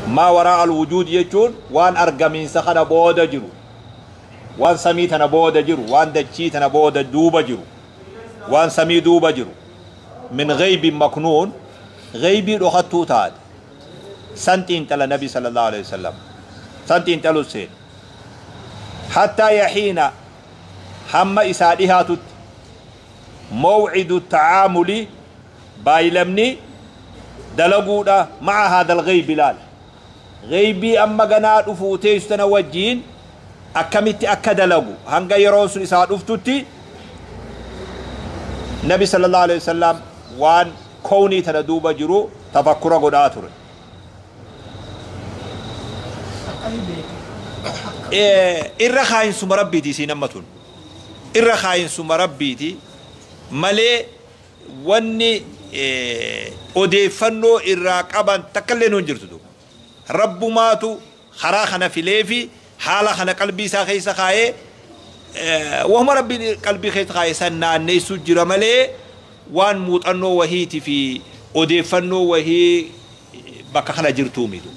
Maa waraa al-wujuud jechuun waan argamiinsa kana booda jiru, waan samii tana booda jiru, waan dachii tana booda duuba jiru, waan samii duuba jiru, min ghaybin maknuun, ghaybii dhokattuu taate, san xiinxala Nabii sallallahu aleyhi wa sallam, san xiinxaluun seene. Hattaa yahiina hamma isaa dhihaatutti, maw'idu ta'aamuli Baay'lamni dalaguudha ma'a haadhal ghaybi laal. Ghaybii amma ganaa dhufuu teessu tana wajjiin akkamitti akka dalagu hanga yeroon sun isaa dhuftutti Nabi sallallahu alaihi wasallam waan kownii tana duuba jiru tafakkura godhaa ture. Irra kaayinsuma rabbiiti isiin amma tun. Irra kaayinsuma rabbiiti malee wanni odeeffannoo irraa qaban takkalleen hin jirtu duuba. Rabbumaatu karaa kana fileefi haala kana qalbii isaa keessa kaayee wahuma Rabbiin qalbii keessa kaaye san naanneessuu jira malee waan muuxannoo wahiiti fi odeeffannoo wahii bakka kana jirtuu mitu.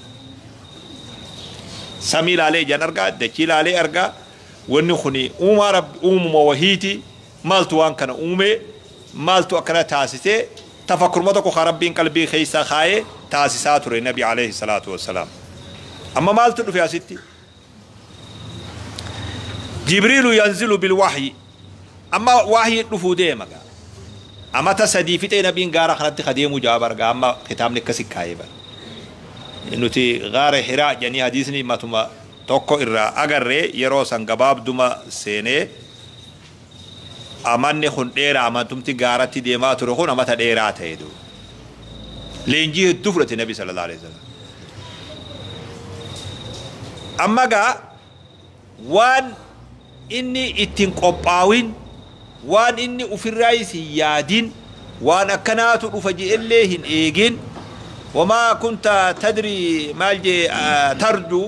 Samii laalee ijaan argaa, dachii laalee argaa, wanni kuni uumaa Rabbi uumuma wahiiti. Maaltu waan kana uume? Maaltu akkana taasise? Tafakkuruma tokko kan Rabbiin qalbii keessa kaaye taasisaa ture Nabi Aleyhi Salaatu Wassalaam. Amma maaltu dhufe asitti? Jibriilu yanzilu bil wahyi. Amma wahyiin dhufuu deema gaa. Amata sadii fixee Nabiin gaara kanatti ka deemuu jaa barga amma kitaabni akkasi kaayee bara. Nuti gaara hiraa jedhanii hadiisni matuma tokko irraa agarre yeroo san gabaabduma seenee Amanni kun dheeraa amantumti gaaratti deemaa ture kun amata dheeraa ta'e du. Leenjii hedduu fudhate Nabi sallallahu alaihi wasallam. Amma gaa waan inni ittiin qophaawin waan inni ofirraa isin yaadin waan akkanaatu dhufa je'ellee hin eegin wamaa kunta tadri maal jee tarjuu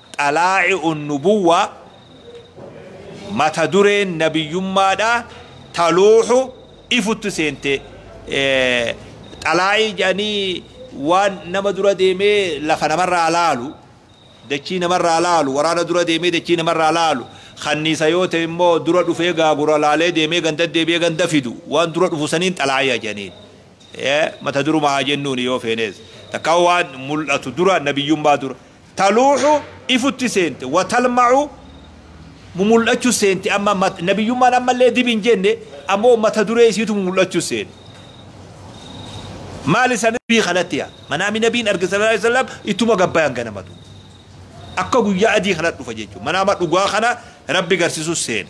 Xalaa'i'un Nubuwwaa, Mata dureen Nabiyyummaadha taluuhu ifutti seente, xalaa'ii jedhanii waan nama dura deemee lafa namarraa laalu, dachii namarraa laalu, waraana dura deemee dachii namarraa laalu, kanniisa yoo ta'e immoo dura dhufee gaagura laalee deemee ganda deebi'ee ganda fidu, waan dura dhufu saniin xalaa'i'a jedhaniin. Mata duruma haa jennuuni yoo feenees. Takkaa waan mul'atu dura, nabiyyummaa dura. taluuxu ifutti seente wa talmacu mumul'achu seente amma mat nabiyyummaan ammallee dib hin jenne ammoo mata duree isiitu mumul'achu seene maali san bii kanatti yaa manaami nabiin arge sallallahu alaihi wasallam ittuma gabbayan ganamatu akka guyyaa adii kanatti dhufa jechuun manaama dhugaa kana rabbi garsiisu seene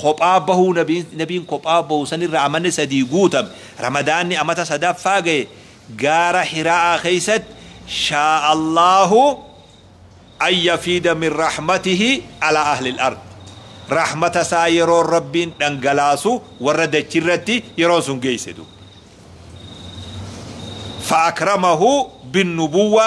Kophaa bahuu nabiin nabiin kophaa bahu sanirra amanni sadii guutame ramadaanni amata sadaffaa gahe gaara hira'aa keessatti shaa allaahu an yafiida min rahmatihi alaa ahlil ard rahmata isaa yeroon rabbiin dhangalaasu warra dachirratti yeroon sun geeyse duuba fa akramahu bin nubuwwa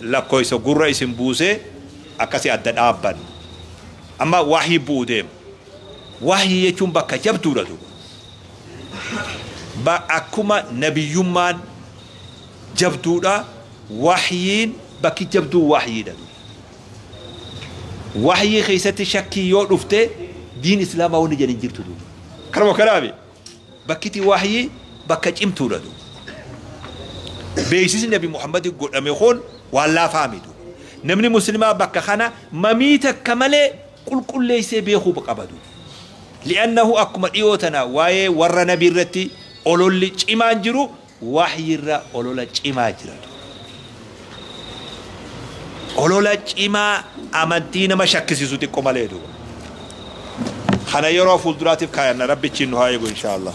lakkoysa gurra isin buusee akkasi adda dhaabban amma wahyi bu'u deema wahyi jechuun bakka jabduudha duuba ba akkuma nabiyyummaan jabduudha wahyiin bakki jabduu wahyiidha duuba wahyii keessatti shakkii yoo dhufte diin islaamaa wanni jedhin jirtu duuba kanuma kanaami Bakkiti wahyii bakka cimtuudha duuba. Beeksisni Nabi Muhammadiif godhame kun waan laafaa miti duuba. Namni Muslimaa bakka kana mamii takka malee qulqulleessee beekuu qaba duuba. Li'annahu akkuma dhiyoo tana waa'ee warra Nabii irratti ololli cimaan jiru Wahyi irra olola cimaa jira ture. Olola cimaa amantii nama shakkisiisu xiqqo malee duuba. Kana yeroo fuulduraatiif kaayanna rabbi achiin nu haa eegu inshaa Allah.